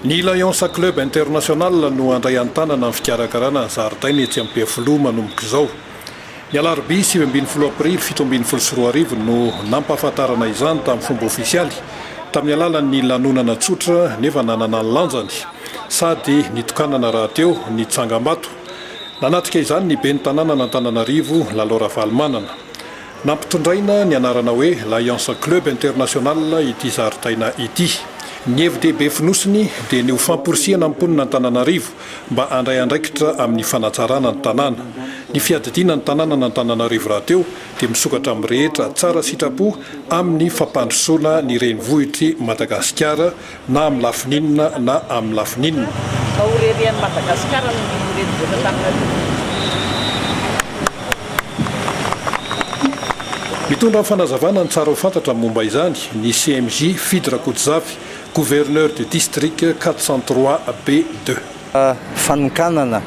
Ny Lions Club International no handray an-tanana ny fikarakarana ny zaridaina etsy Ampefiloha manomboka izao. Ny alarobia sivy ambin'ny folo aprily fito ambin'ny folo sy roa arivo no nampahafantarana izany tamin'ny fomba ofisialy tamin'ny alalan'ny lanonana tsotra nefa nanana ny lanjany sady nitokanana rahateo ny tsangambato. Nanatrika izany ny ben'ny tanànan'Antananarivo, Lalo Ravalomanana. Nampitondraina ny anarana hoe Lions Club International ity zaridaina ity. Ny hevi-dehibe fonosiny dia ny ho famporisihana ny mponina Antananarivo mba handray andraikitra amin'ny fanatsarana ny tanàna. Ny fiadidiana ny tanànan'Antananarivo rahateo dia misokatra amin'ny rehetra tsara sitrapo amin'ny fampandrosoana ny renivohitr'i Madagasikara, na amin'ny lafiny inona na amin'ny lafiny inona. Mba ho reharehan'i Madagasikara ny renivohitra Antananarivo. Mitondra ny fanazavana ny tsara ho fantatra momba izany ny CMJ Fidy Rakotozafy, Gouverneur du District quatre cent trois B deux. Fanokanana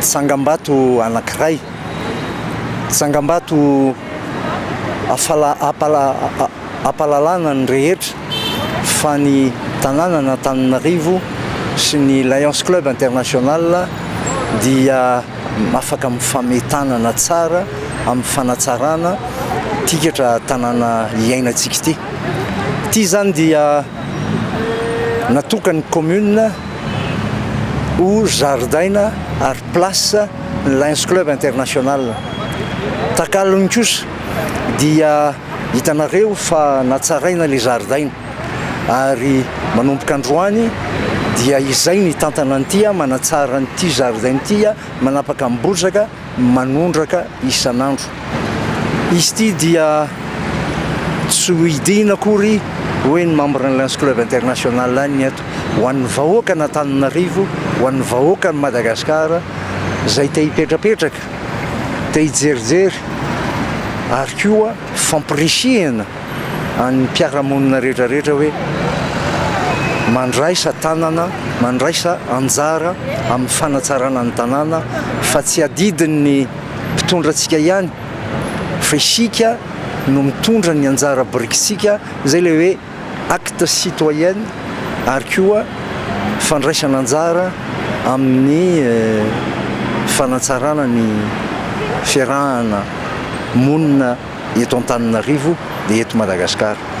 tsangambato anankiray, tsangambato ampahalalana ny rehetra fa ny tanànan'Antananarivo sy ny Lions Club International dia afaka mifame tanana tsara amin'ny fanatsarana ity ketra tanàna iainantsika ity. Ity izany dia natokan'ny commune. ho zaridaina ary place ny Lions Club International. Takalony kosa dia hitanareo fa natsaraina ilay zaridaina ary manomboka androany dia izay ny hitantana an'ity, manatsara an'ity zaridaina ity, manapaka ny bozaka. manondraka isan'andro. Izy ity dia tsy hohidiana akory hoy ny membran'ny Lions Club International any eto ho an'ny vahoakan'Antananarivo, ho an'ny vahoakan'i Madagasikara izay te hipetrapetraka, te hijerijery ary koa fampirisihina an'ny mpiara-monina rehetra rehetra hoe mandraisa tanana, mandraisa anjara amin'ny fanatsarana ny tanàna fa tsy adidin'ny mpitondra antsika ihany fa isika no mitondra ny anjara birikitsika izay ilay hoe acte citoyen ary koa fandraisana anjara amin'ny fanatsarana ny fiarahana monina eto Antananarivo dia eto Madagasikara.